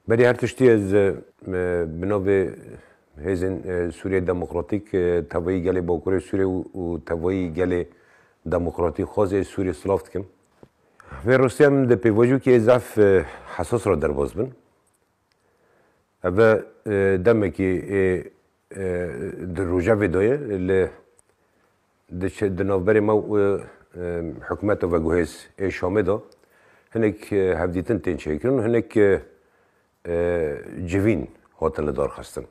Belê her tiştî ez bi navê hêzên Sûriyeyê Demokratîk tevayî gelê Bakurê Sûriyê û tevayî gelê demokratîk xwezê Sûriyê silav dikim. Vê rastîya min de pêvajo kê zaf hesas re derbas bin. Eve demekê ê Di rojevê de ye li diçe di navberê me û hikûmeta veguhêz ê Şamê de hinek hevdîtin tên çêkirin û hinek civîn hatin lidarxistin.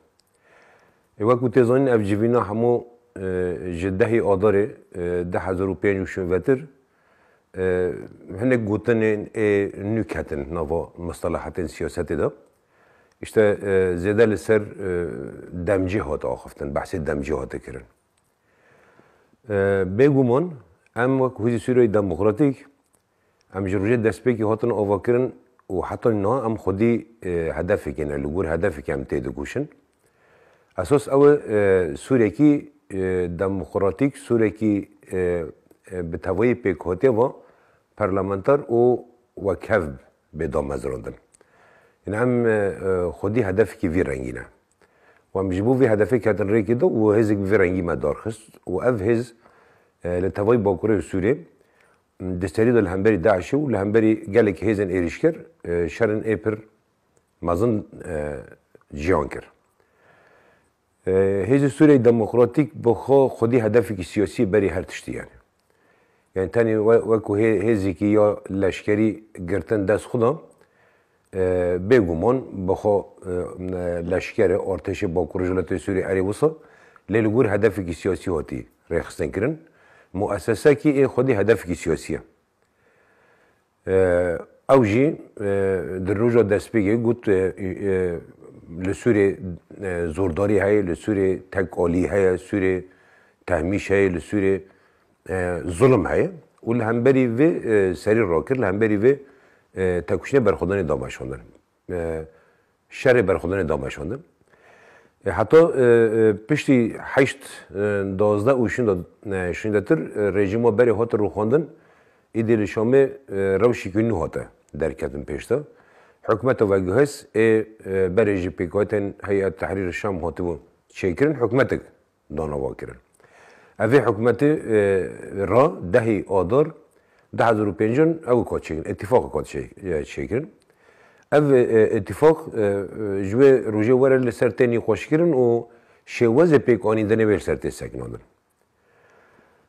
Ê wek ku tê zanîn ev civîna hemû ji dehê Adarê du hezar û pênc û şûn vetir hinek gotinên ê nû ketin nava mustalahatên siyasetê de. Îşte zêde li ser demcî hat axiftin, behsê demcî hate kirin. Bêguman em wek Hûzî Sûriyeyê Demokratîk em ji rojê destpêkî hatin avakirin û heta niha em xwedî hedefekê ne, li gor hedefekê em tê dikoşin. Esas ew e Sûrekî demokratîk, Sûrekî bi tevayî pêkhatiye va perlementar û wekhev bê damezrandin. Îna em xwedî hedefekî vî rengî ne. Û em ji bo vê hedefê ketin rêkê de û hêzek bi vê rengî me darxist û ev hêz li tevayî bakurê Sûriyê di serî de li hemberî DAIŞ'ê û li hemberî gelekî hêzên êrîşker şerên ê pir mezin jiyan kir. Hêzên Sûriyeyê Demokratîk bi xwe xwedî hedefekî siyasî berî her tiştî ye. Yanî tenê wekû hêzekî ya leşkerî girtin dest xwe da. Bêguman bi xwe leşker e, artêşê bakurê ji welatê Sûriyê erê wisa lê li gor hedefekî siyasî hatî rêxistinkirin. Muessesekî ê xwedî hedefekî siyasî ye. Ew jî di roja destpêkê got li Sûriyê zordarî heye, li Sûriyê tekalî heye, Sûriyê tehmîş heye, li Sûriyê zulim heye û li hemberî vê serî rakir, li hemberî vê têkoşînê berxwedanê da veşandin. Şerê berxwedinê da meşandin. Heta piştî heşt, duwazdeh û şinda şindetir rejîma berê hate rûxandin, îdî li Şamê rewşekî nû hate derketin pêş de. Hikûmeta veguhêz ê berê ji pêkhatên Heyet Tehrîr Şam hatibû çêkirin, hikûmetek danava kirin. Evê hikûmetê ra dehî Adar du hezar û pênc in ew kat çêkirin, îtîfaqek hat çêkirin. Ev îtîfaq ji wê rojê were li ser tê nîqaşkirin û şêwezê pêkanîndinê wê li ser tê sekinandin.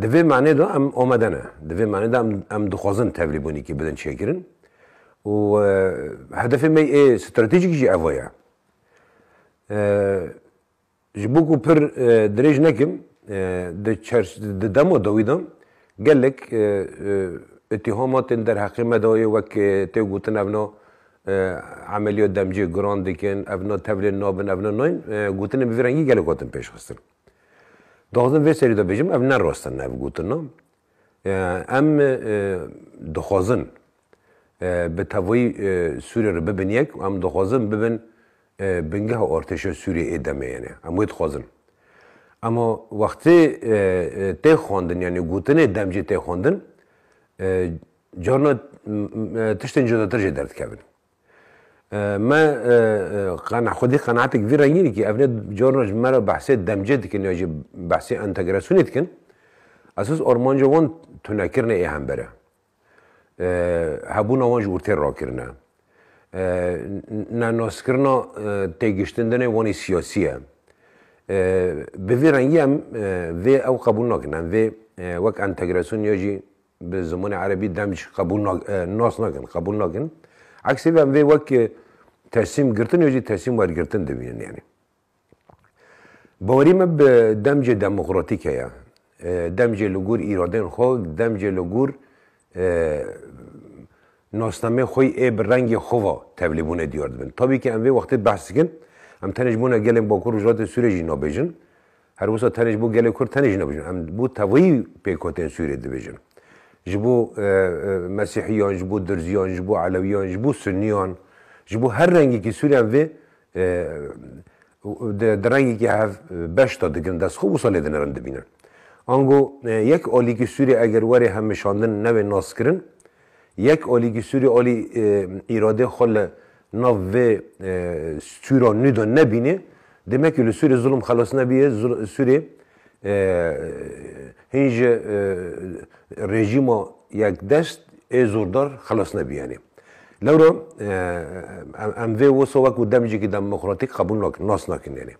Di vê manê de em omade ne. Di vê manê de em dixwazin tevlîbûnekî bilind çêkirin û hedefê me yê stratejîk jî evo ye. Ji bo ku pir dirêj nekim, di dema dawî de gelek îtîhama tên derheqê me de yê wek tê gotin evna emeliya demcê giran dikin, evna tevlên nabin, evna nayên, gotinên bi vî rengî gelek hatin pêşxistin. Daxizim vê serî de bêjim ev ne rast e nev gotina. Em dixwazin bi tevayî Sûriyê re bibin yek û em dixwazin bibin bingeha artêşa Sûriyê ê demê yenê. Em wê dixwazin. Ema wextê tê xwendin yanî gotinê dem jî tê xwendin carna tiştên cudatir jê derdikevin. Me xwedî qenatek vî rengî dikî, ev ne carna ji me re behsê demcê dikin ya jî behsê entegrasyonê dikin. Esos armanca wan tunekirina ê hember e. Hebûna wan ji wir tê rakirin e. Nenaskirina têgiştin din ê wanî siyasî ye. Bi vî rengî em vê ew qebûl nakin. Em vê wek entegrasyon ya jî Bi zimanê erebî dem jî qebûl nas nakin, qebûl nakin. Eksê vê em vê wek tesîm girtin yo jî tesîm wergirtin dibînin yanî. Bawerî me bi demcê demokratîk heye. Demcê li gor îradeyên xwe, demcê li gor nasnameyê xwe yî ê bi rengê xwe ve tevlîbûnê diyar dibin. Tabî ke em vê wextê behs dikin, em tenê ji bona gelên Bakur Rojhilatê Sûriyê jî nabêjin. Her wisa tenê ji bo gelê Kurd tenê jî nebijin. Em bo tevî pêkhatên Sûriyê dibijin. Ji bo Mesîhiyan, ji bo Dirziyan, ji bo Elewiyan, ji bo Suniyan, ji bo her rengekî Sûriyan vê di rengekî hev beş de digrin dest xwe wisa lê dinerin dibînin. Ango yek alîkî Sûriyê eger were hemşandin nebe naskirin, Yek olî gîsûrî olî îradê xwe li nav vê sûra nû de nebînê, dême ku li sûrê zulm xelas nebîyê, sûrê hîn ji rejîma yekdest ê zordar xelas nebîyenê. Lewra em vê wisa wek û demcîkî demokratîk qebûl nakin, nas nakin yanê.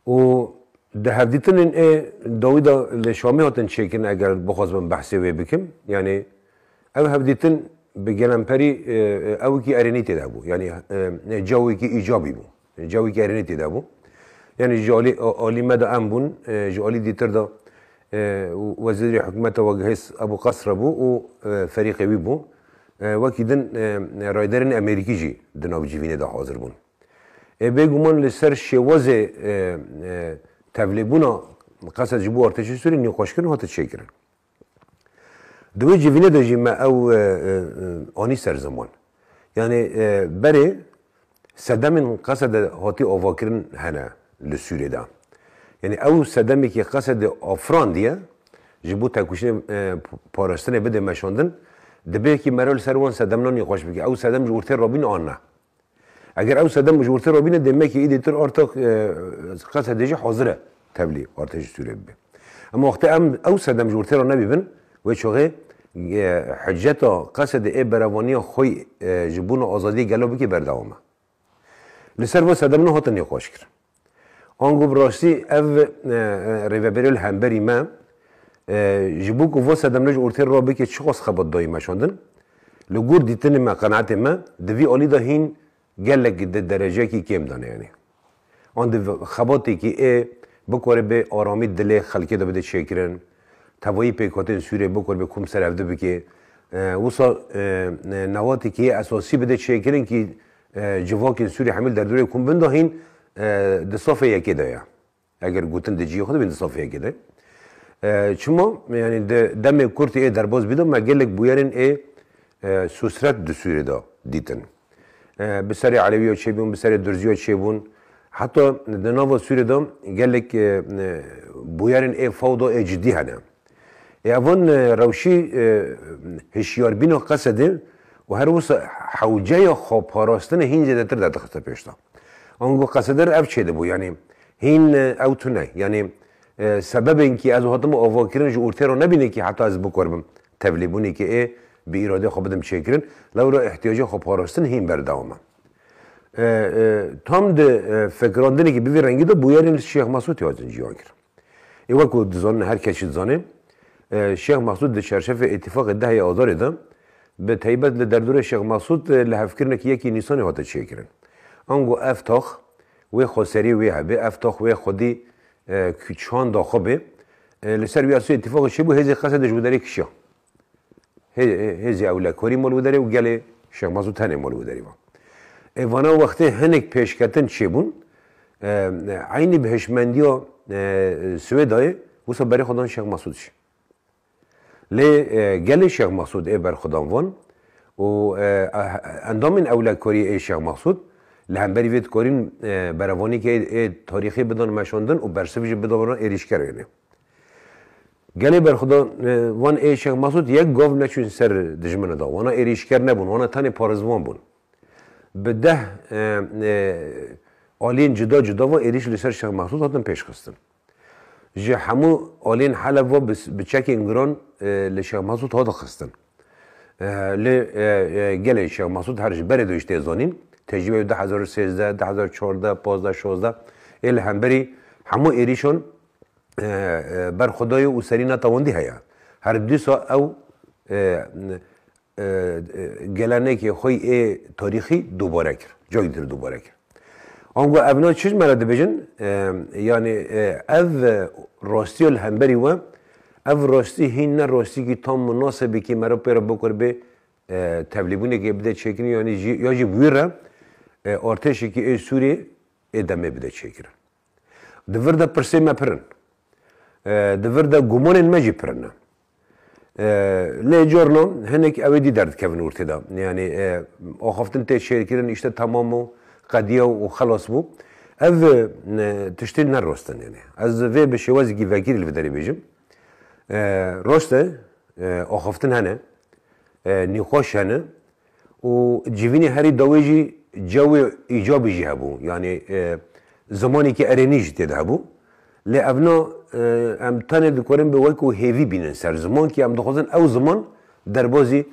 Û di hevdîtinên ê dawî de li Şamê hatin çêkirin eger bixwazibim behsê wê bikim. Yanî ev hevdîtin bi gelemperî ewikî erênî tê de bû. Yanî cawekî îcabî bû. Cawekî erênî tê de bû. Yanî ji alî alî me de em bûn, ji alî dîtir de wezîrê hikûmeta Wegihês Ebû Qesre bû û ferîqê wî bû. Wekî din rayedarên Amerîkî jî di nav civînê de hazir bûn. Ê bêguman li ser şêwazê tevlêbûna qesed ji bo artêşa Sûriyê nîqaşkirin hate çêkirin. Di wê civînê de jî me ew anî ser ziman. Yanî berê sedemên qesede hatî avakirin hene li Sûriyê de. Yanî ew sedemekî qesedê afirandiye ji bo têkoşînê parastinê bidê meşandin, dibe ki me re li ser wan sedemnan nîqaş bike. Ew sedem ji ortê re bûn an ne. Eger ew sedem ji wirtir re bîne demekê îdî tir orta qesedê jî hazir e tevlî orta ji Sûriyê bibe. Ema wextê em ew sedem ji wirtê re nebîbin wê çaxê hiceta qesedê ê berevaniya xwe ji bûna azadiyê gelo bikê berdewam e. Li ser vê sedem ne hatin nîqaşkirin. Ango bi rastî ev rêveberê li hemberî me ji bo ku vo sedemle ji ortê re bike çiqas xebat dayî meşandin. Li gor dîtinê me, qenaetê me di vî alî de hîn gelek di dereceyekî kêm de ne yanî an di xebatêkî ê bikare bê aramî dilê xelkê de bide çêkirin, Tevayî pêkhatên Sûriyeyê bikor bê kom ser ev di bike. Wisa newatek heye esasî bide çêkirin kî civakên Sûriyê hemî li derdorê kom bin de hîn di safê yekê de ye. Eger gotin di ciyê xwe de hîn di safê yekê de. Çima yanî di demê kurt ê derbas bî de me gelek bûyerên ê sosret di Sûriyê de dîtin. Bi serê Elewiyo çêbûn, bi serê Durziyo çêbûn. Heta di nava Sûrê de gelek bûyerên ê fewda ê cidî hene. Ê evan rewşî hişyarbîna qesedê û her wisa hewceya xweparastinê hîn zêdetir derdixiste pêş de. Ango qesede re ev çêdibû yanî hîn ew tune yanî sebebên kî ez hatim avakirin ji ortê re nebîne kî heta ez bikorbim Tevlîbûnê ke ê bi îradê xwe bidim çêkirin, lewra îhtîyacê xwe parastin hîn berdewam e. Tam di fikirandinekî bi vî rengî de bûyerên li Şêx Mesûtê hatin cîhankirin. Ê wek ku dizanin her kes jî dizane, Şêx Mesût di çarşefê Îtîfaqê dehê Azarê de, bi taybet li derdorê Şêx Mesût lihevkirinekî yekî Nîsanê hate çêkirin. Ango ev tax wê xweserî wê hebê, ev tax wê xwedî çanda xwe bê, Li ser vî asûyê îtîfaqê çêbû hêzê qese dij widerê kişiya. Hêzê ewle korî mol widerê û gelê Şex Masûd tenê mol widerê va. Ê vana wextê hinek pêşketin çêbûn, eynî bi hişmendiya Swêdayê wisa berê xwe dan Şex Masûd jî. Lê gelê Şex Masûd ê berxwedan van û endamên ewle korî ê Şêx Mexsûd li hemberî vê dikarîn berevonîkê ê tarîxî bidin meşandin û bersiv jî bidana êrîşkerê ne. Gelê berxweda van ê Şêx Mexsûd yek gav neçûn ser dijmine de. Wana êrîşker nebûn, wana tenê parêzvan bûn. Bi deh aliyên cuda cuda ve êrîş li ser Şêx Mexsûd hatin pêşxistin. Ji hemû aliyên Heleb ve bi çekên giran li Şêx Mesûd hat xistin. Lê gelê Şêx Mesûd her ji berê doj tê zanîn, tecrûbeya du hezar û sêzdeh, du hezar û çardeh, pazdeh, şazdeh ê li hemberî hemû êrîşan ber xwe daye û serî netewandî heye. Her dîsa ew Gelenekê xwe yê tarîxî dubare kir. Cayî dir dubare kir. Ango ev na çi me re dibêjin? Yanî ev rastiya li hemberî we, ev rastî hîn ne rastîkî tam munasebî kî me re pê re bikor bê tevlîbûnekê bide çêkirin yanî jî ya jî bi wî re artêşekî ê Sûrî ê demê bide çêkirin. Di vir de pirsên me pir in. Di vir de gumanên me jî pir in. Lê carna hinek ewê dî derdikevin ortê de. Yanî axaftin tê şêrkirin îşte temam bû, qediya û xelas bû. Ev tiştên ne rast in. Yanî ez vê bi şêwazekî vekirî li vê derê bêjim. Rast e axaftin hene, nîqaş hene, Û civînê herî dawê jî cewê îcabî jî hebû, yanî zimanêkî erênî jî têde hebû. Lê evna em tenê dikarin bi wekû hêvî bînin ser ziman kî em dixwazin ew ziman derbasî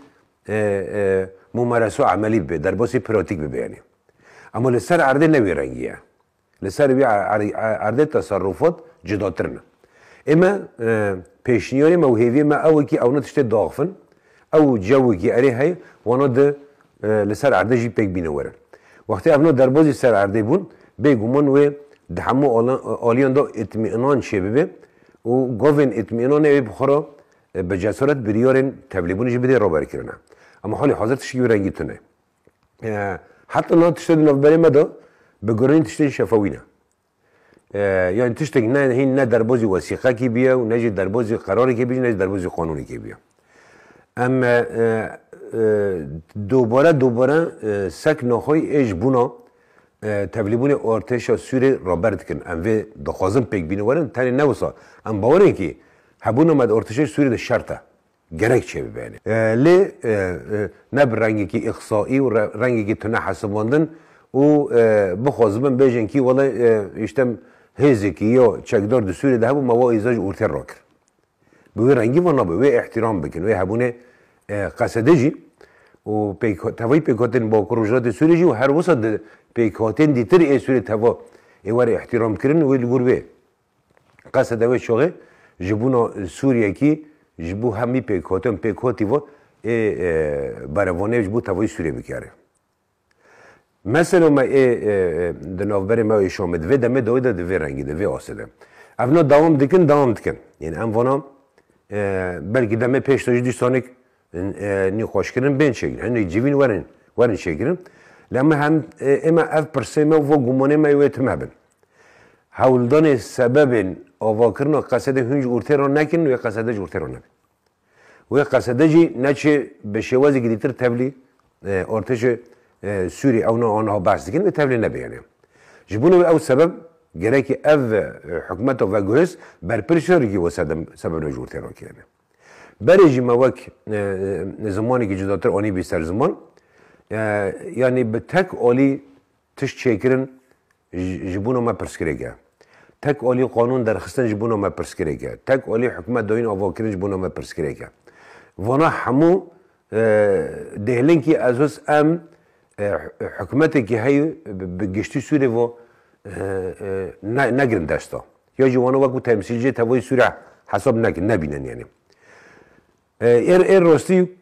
mumereso emelî bibe, derbasî pratîk bibe yanî. Ema li ser erdê ne wî rengî ye. Li ser vî erdê teserrufat cudatir ne. Ê me pêşniyarê me û hêviyê me ew e kî ewna tiştê diaxivin, ew cewekî erê heye wana di li ser erdê jî pêk bîne were. Wextê evna derbazî ser erdê bûn, bê guman wê di hemû aliyan de îtmîinan çêbibe û gavên îtmîinanê wê bi xwe re bi cesaret biriyarên tevlêbûnê jî bidê raberkirine. Ema halê hazir tiştî wê rengî tune. Heta niha tiştê di navberê me de bi guherîn tiştên şefewî ne. Yanî tiştek ne hîn ne derbozî wesîqekî bûye û ne jî derbozî qerarekê bûye ne jî derbozî qanûnekê bûye. Em dubare dubare sek naxoyî ê ji bûna tevlîbûnê artêşa Sûriyê raber dikin. Em vê dixwazin pêk bînin werin tenê ne wisa. Em bawerên kî hebûna me di artêşê Sûriyê de şert e. gerek çê bibenê. Lê ne bi rengekî îqsaî û rengekî tune hesibandin û bixwazibin bêjin kî wele îştem hêzekî ya çekdar di Sûriyê de hebû me wa îza ji ortê re kir. Bi wê rengî ve nabe wê îhtîram bikin, wê hebûnê qesede jî û tevayî pêkhatên Bakur Rojhilatê Sûriyê jî û her wisa di pêkhatên dîtir ê Sûriyê teva ê were îhtîramkirin wê li gor wê Qeseda wê şoxê ji bûna Sûriyekî ji bo hemî pêkhatin, pêkhotî vat ê berevane ji bo tevayî Sûriyê bikere. Mesela me ê di navberê me ê Şamê di vê demê dawî de di vê rengî de, vê asê de. Ev na dewam dikin, dewam dikin. Yên em vana belkî demê pêş de jî dîsanek Nî xweş kirin bên çêkirin. Hinek civîn werin werin çêkirin. La me hem ême ev pirsê me û va gumanê me wê tim hebin. Hewldanê sebebên avakirina qesedê hûn ji ortê re nekin wê qesede ji ortê re nebe. Wê qesede jî neçê bi şêwazê girîtir tevlî artêşê Sûrî ew na aniha behs dikin wê tevlê nebe yanê. Ji bona wê ew sebeb gerekî ev hikûmeta veguhêz berpirsîyarîkî wê sebebna ji ortê re kêne. Berê jî me wek zimanekî cudatir anîbî ser ziman. Yanî bi tek alî tişt çêkirin ji bona me pirsgirêk e. Tek alî qanûn derxistin ji bona me pirsgirêk e. Tek alî hikûmet dayîn avakirin ji bona me pirsgirêk e. Vana hemû dêhlinkî ezoz em hikûmetekî heyî bi giştî Sûrê ve negrin desta. ya jî wan wekû temsîlciyê tevayî Sûre hesab nekin, nebînin yanî. Êr êr rastî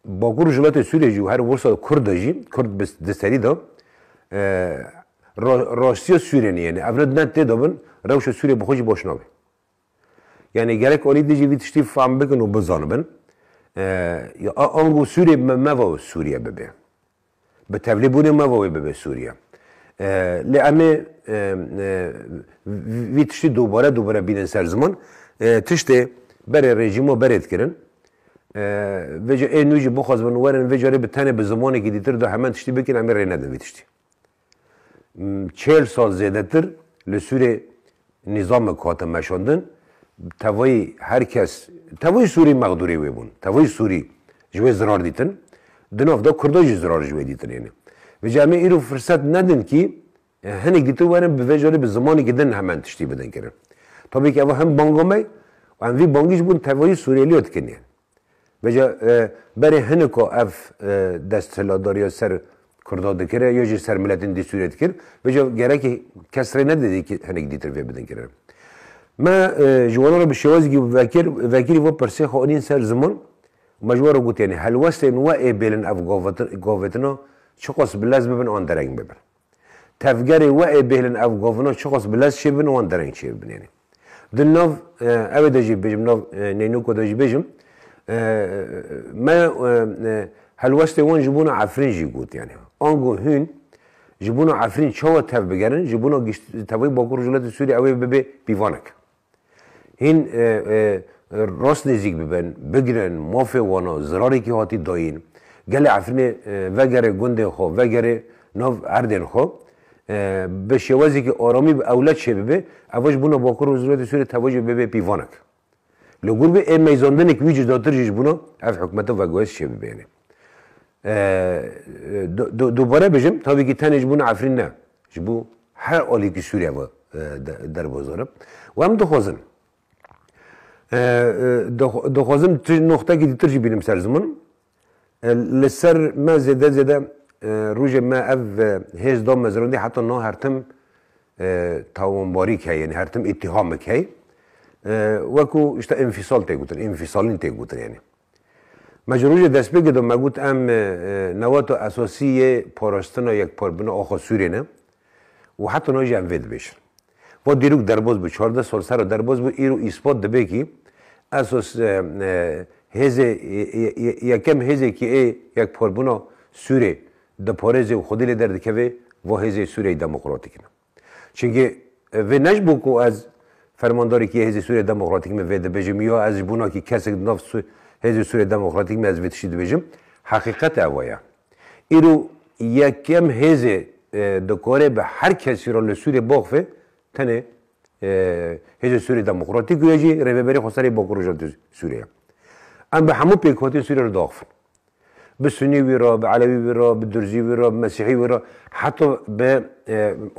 Bakur û Jilatê Sûriyê jî û her wirsa Kurd de jî, Kurd bi di serî de rastiya Sûriyê ne yanî. Ev ne ne tê dabin rewşa Sûriyê bi xwe jî baş nabe. Yanî gerek alî din jî vî tiştî fehm bikin û bizanibin. Ya ango Sûriyê me va Sûriye bibe. Bi tevlî bûnê me ve wê bibe Sûriye. Lê em ê vî tiştî dubare dubare bînin ser ziman. Tiştê berê rejîm û berê dikirin. Vê ca ê nû jî bixwazibin werin vê carê bi tenê bi zimanekî dîtir de heman tiştî bikin em ê rênedin vî tiştî. Çêl sal zêdetir li Sûrê nîzamek hate meşandin, tevayî her kes, tevayî Sûrî mexdûrê wê bûn, tevayî Sûrî ji wê zirar dîtin, di nav de Kurda jî zirar ji wê dîtinê ne. Vê ca em ê îro firset nedin kî hinek dîtin werin bi vê carî bi zimanekî din hemen tiştî bidin kirin. Tabî kî ev hem banga me ye û em vî bangî ji bo tevayî Sûrêliya dikin yani. Bêje berê hiniko ev desthilatdariya ser Kurda dikire yo jî ser miletên dî Sûriyê dikir, bêje gerekî kes rê nedidî ki hinek dîtir vê bidin kirin. Me ji wan re bi şêwazekî vekir vekirî vê pirsê xwe anîn ser ziman û me ji wan re got yanî helwestên we ê bêlin ev gavetina çiqas bi lez bibin an dereng bibin. Tevgerê we ê bêhlin ev govina çiqas bi lez çêbin wan dereng çêbinêne. Di nav ew ê de jî bêjim nav neynoka de jî bêjim me helwestê wan ji bona Efrîn jî got yanî ango hûn ji bona Efrîn çawa tev bigerin ji bona tevayî Bakur Rojhilatê Sûriyê ew ê bibe pîvanek. Hîn rast nêzîk bibin, bigirin, mafê wan a, zirarekî hatî dayîn. Gelê Efrînê vegerê gundên xwe, vegerê nav erdên xwe. Bi şêwezekî aramî bi ewle çêbibe, ev ji bûna Bakur Rojhilatê Sûriyê tevajê bi bibê pîvanek. Li gûr bi ê meyzandinekî wî cudatir jî ji bûna ev hikûmeta veguhêz çêbibêne. Dubare bijim, tavî kî tenê ji bo Efrîn ne, ji bo her aliyê kî Sûriye ve derve zor e û em dixwazin dixwazin tu noxtekî ditir jî bînim ser ziman. Li ser me zêde zêde rojê me ev hêz da mezrandî heta niha her tim tawanbarîk heye yanî her tim îtîhamek heye. Wek ku îşta înfîsal tê gotin, înfîsalîn tê gotin yanî. Me ji rojê destpêkê de me got em newata esasî yê parastina yekparbûna axa Sûriyê ne û heta niha jî em vê dibêjin. Va dîrok derbas bû, çardeh sal sera derbas bû, îro îspat dibe kî esos hêzê yekem hêzê kî ê yekparbûna Sûriyê diparêzê û xwedî lê derdikeve va hêzê Sûriyeyê Demokratîk ne. Çimkî vê ne ji bo ku ez fermandarekî Hêzê Sûriyê Demokratîk me vê dibêjim ya ez ji bo nakî kesek di nav Hêzê Sûriyê Demokratîk me ez vê tiştî dibêjim. Heqîqet ew e ya. Îro yekem hêzê dikarê bi her kesî re li Sûriyê baxve tenê Hêzê Sûriyê Demokratîk û ya jî Rêveberê Xweserê Bakur Rojhilata Sûriyê ye. Em bi hemû pêkhatî Sûriyê re diaxivin. Bi Sunî wî re, bi Elewî wî re, bi Durzî wî re, bi Mesîhî wî re heta bi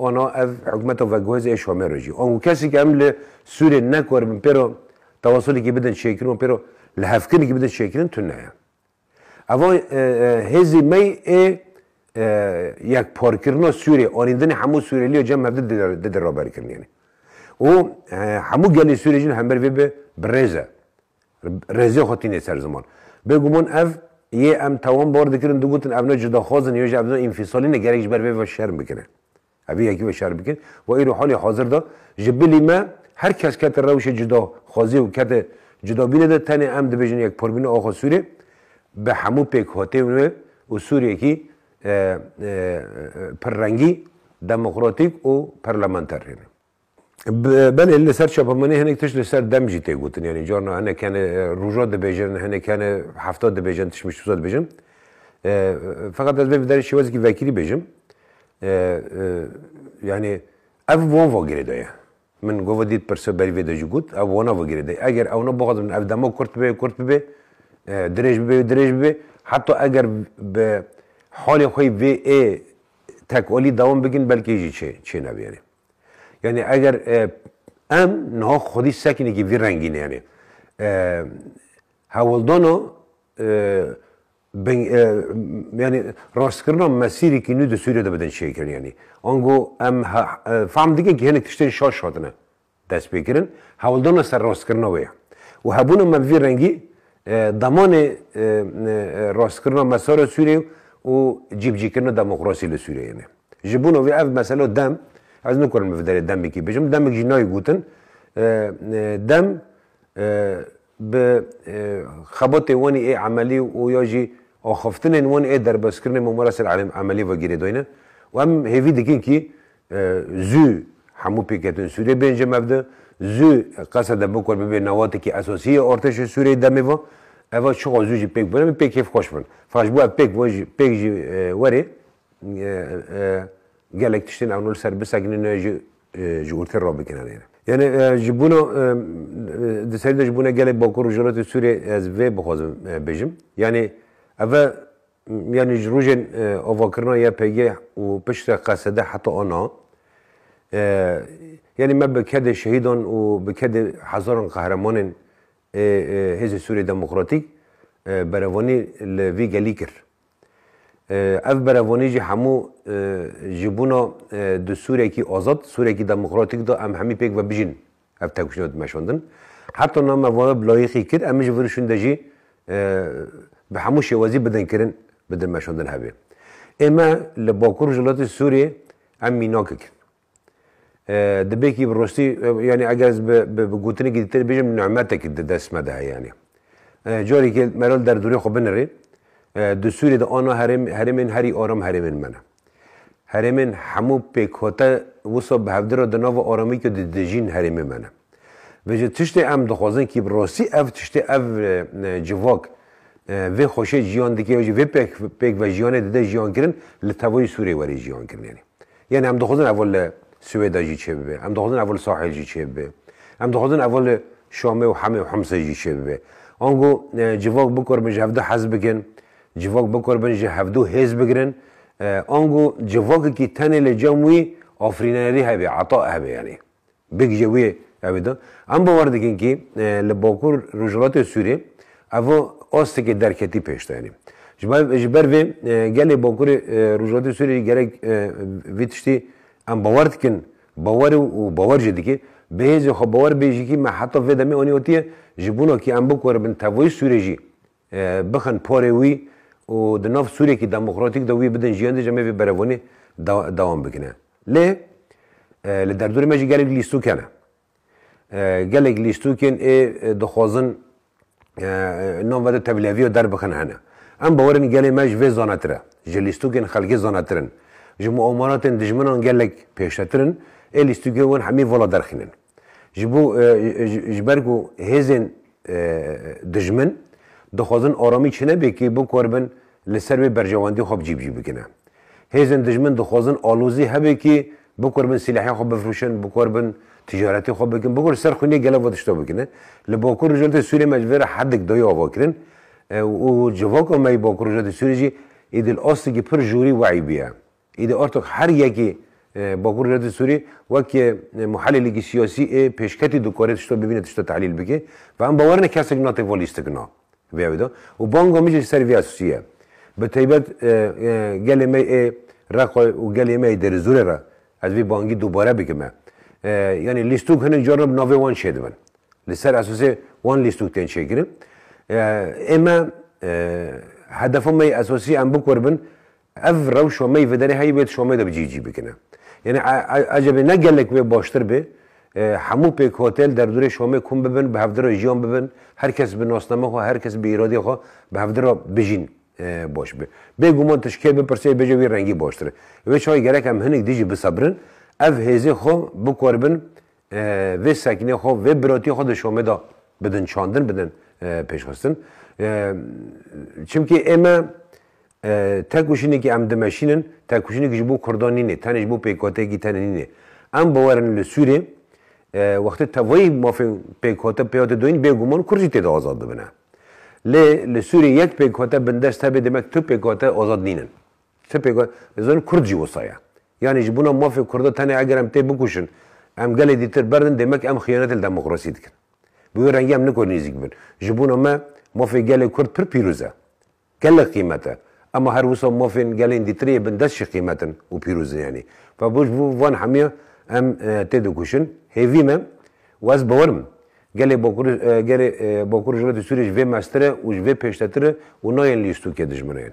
ana ev hikûmeta veguhêz ê Şamê re jî. Ango kesekî em li Sûriyê nekaribin pê re tewasulekî bidin çêkirin û pê re lihevkirinekî bidin çêkirin tune ye. Eva hêzê me ê yekparkirina Sûriyê, anîndinê hemû Sûriyelîya cem hev di diraberkirinê ne. Û hemû gelê Sûriyê jî li hember vê bi birêz e. Rêzê xwe tînê ser ziman. Bêguman ev yê em tewam bar dikirin digotin ev ne cudaxwaz in yo jî ev ne înfîsalîn e gerek ji ber vê ve şerm bikin e. Ev ê yekî ve şerm bikin. Wa îro halê hazir de ji bilî me her kes kete rewşê cudaxwaziyê û kete cudabînê de tenê em dibêjin yekparbîna axa Sûrê bi hemû pêkhateyên wê û Sûreyekî pirrengî, demokratîk û perlementer hêne. Belê li ser çapemenê hinek tişt li ser dem jî tê gotin yanî carna hinek hene roja dibêjin hinek hene hefta dibêjin tişt min şûza dibêjin. Feqet ez vê bi derê şêwezekî vekirî bêjim yanî ev wan va girê de ye. Min gova dît pirse berî vê de jî got ew wana va girê de ye. Eger ewna bixwazin ev dema kurt bibê kurt bibê dirêj bibê dirêj bibê heta eger bi halê xwe vê ê tekalî dewam bikin belkê jî çê çê nabêrê. Yanî eger em niha xwedî sekinekî vî rengî neyanê hewldana yanî rastkirina mesîrekî nû di Sûriyê de bidin çêkirin yanî ango em fehm dikin kî hinek tiştên şaş hatine destpêkirin hewldana ser rastkirina wê ye û hebûna me vî rengî demanê rastkirina mesara Sûriyê û cîbicîkirina demokrasî li Sûriyeyê ne. Ji bûna wî ev mesela dem, ez nikarim li vê derê demekî bijim, demek jî nayê gotin dem bi xebatê wan ê emelî û ya jî axaftinên wan ê derbazkirinê Mamara ser emelî vegirê dayne û em hêvî dikin kî zû hemû pêketên Sûriyê bên ji mevde, zû qesa de bikor bibê newatekî esasî yê artêşê Sûriyê demê ve, eva çiqa zû jî pêk bûn em ê pêk hêvxweş bin. Firaş bo ev pêk jî werê Gelek tiştên ew nol ser bisekinin e jî ji urtê re bikin anêne. Yanê ji bûna di serî de ji bûna gelê Bakur Rojhilatê Sûriyê ez vê bixwazim bijim. Yanê ev e yanê ji rojên avakirina YPG û piştre qesede heta ana yanê me bi kedê şehîdan û bi kedê hezaran qehremanên ê Hêzê Sûriyê Demokratîk berevanî li vî gelî kir. Ev berevonî jî hemû ji bûna di Sûrekî azad, Sûrekî demokratîk de em hemî pêk ve bijîn ev tevkişîna dimeşandin. Her tane me vane bi layîqî kir, em ê ji vir û şûnde jî bi hemû şêwezî bidin kirin bi dimeşandin hevê. Ê me li bakur rojhilatê Sûriyê em mînak kikin. Dibêkî bi rostî yanî eger ez bi gotinekî dîtir bêjim nimetekî di dest me de heye yanî. Carekê Meral derdorê xwe binirê, di Sûriyê de ana herêmên herî aram herêmên me ne. Herêmên hemû pêkhate wisa bi hevdî re di nava aramîkê de dijîn herêmê me ne. Vê jî tiştê em dixwazin kî bi rostî ev tiştê ev civak vê xweşê ciyan dike ya jî vê pêk vejiyanê dide jiyankirin li tevayî Sûriyê werê jiyankirin yanî. Yanî em dixwazin evo li Siwêda jî çêbibe, em dixwazin evo li Sahel jî çêbibe, em dixwazin evo li Şamê û Hemê û Himsê jî çêbibe. Ango civak bikorbin ji hevdu hez bikin, civak bikorbin ji hevdu hêz bigirin. Ango civakekî tenê li cem wî afirînerî hebe, ata hebe yanî. Bêgije wê ew ê da. Em bawer dikin kî li bakur rojhilatê Sûriyê ev astikê derketî pêş de yanî. Ji ber vê gelê bakurê rojhilatê Sûriyê jî gerek vê tiştî em bawer dikin bawer û bawer jî dike. Bihêzê xwe bawer bê jî kî me heta vê demê anî otiye ji bona kî em bikoribin tevayî Sûriyê jî. bixin porê wî û di nav Sûriyeyekî demokratîk de wî bidin jiyandê jî em ê vê berevbûnê dewam bikine. Lê li derdorê me jî gelek lîstok hene. Gelek lîstokên ê dixwazin nan vede tevliheviya derbixin hene. Em bawer in gelê me ji vê zanetir e. Ji lîstokên xelkê zanetir in. Ji muamalatên dijminan gelek pêştetir in. Ê lîstokên wan hemî vala derxînin. Ji bo ji ber ku hêzên dijmin dixwazin aramî çinebêkî bikorbin li ser wê berjewendî xwe bi cîbicî bikine. Hêzên dijmin dixwazin alozî hebêkî bikorbin sîlehê xwe bifrûşin, bikorbin ticaretê xwe bikin, bikorbin ser xwînê gelek ve tişta bikine. Li Bakur Rojhilatê Sûriyê me ji vê re hedik dayê ava kirin û civaka me yê Bakur Rojhilatê Sûriyê jî Îdil Astikî pir jorî weyî bûye. Îdî Ertug her yekê Bakur Rewletê Sûrî wek muhelîlêkî siyasî ê pêşketî dikare tişta bibîne tişta tehlîl bike ve em bawer ne kesek na têva lîstik na vê ew de û banga min jî li ser vê esasî ye. Bi taybet gelê me ê Reqay û gelê me ê Derizorê re ez vê bangî dubare bikim me yanî lîstuk hinek caran bi navê wan çêdibin li ser esasê wan lîstuk tên çêkirin ê me hedefa me yê esasî em bikoribin Ev rew şomeyî viderê heyî wê di şomê de bi cî cî bikine. Yanî ecebê ne gelek wê baştir bê hemû pêk hotel derdûrê şomê kom bibin bi hevdi re jiyan bibin her kes bi nasname xwe her kes bi îradê xwe bi hevdi re bijîn baş be. Bêguman tu ji kê bipirsê bêje wî rengî baştir e. Wê çaye gerek em hinik dijî bisebirin ev hêzê xwe bikoribin vê sekînê xwe, vê birotîyê xwe di şomê de bidin çandin, bidin pêşxistin. Çimkî ême têkoşînekî em dimeşînin, têkoşînekî ji bo kurdan nînê, tenê ji bo pêkhoteyekî tenê nînê. Em biwerin li Sûriyê wextê tevayî mafên pêkhote pê hate doyîn bêguman kurd jî tê de azad bibine. Lê li Sûriyê yek pêkhote bindest hebe demek tu pêkhote azad nînin. Ti pê got, dizanî kurd jî wisa ye. Yanî ji bona mafê kurda tenê eger em tê bikuşin, em gelê dîtir berdin demek em xiyanetê li demokrasî dikin. Bi wê rengî em niko nêzîk bibin. Ji bona me mafê gelê kurd pir pîroz e. Gelek qîmet e. Ema her wisa mafên gelên dîtirê yê bindest jî qîmet in û pîroz in yanî. Ba ji bo van hemiyan em tê dikuşin. Hêvî me û ez bawer im Gelê Bakur gelê Bakur Rojhilatê Sûriyê ji vê meztir e û ji vê pêştetir e û nayên lîstokê dijminên.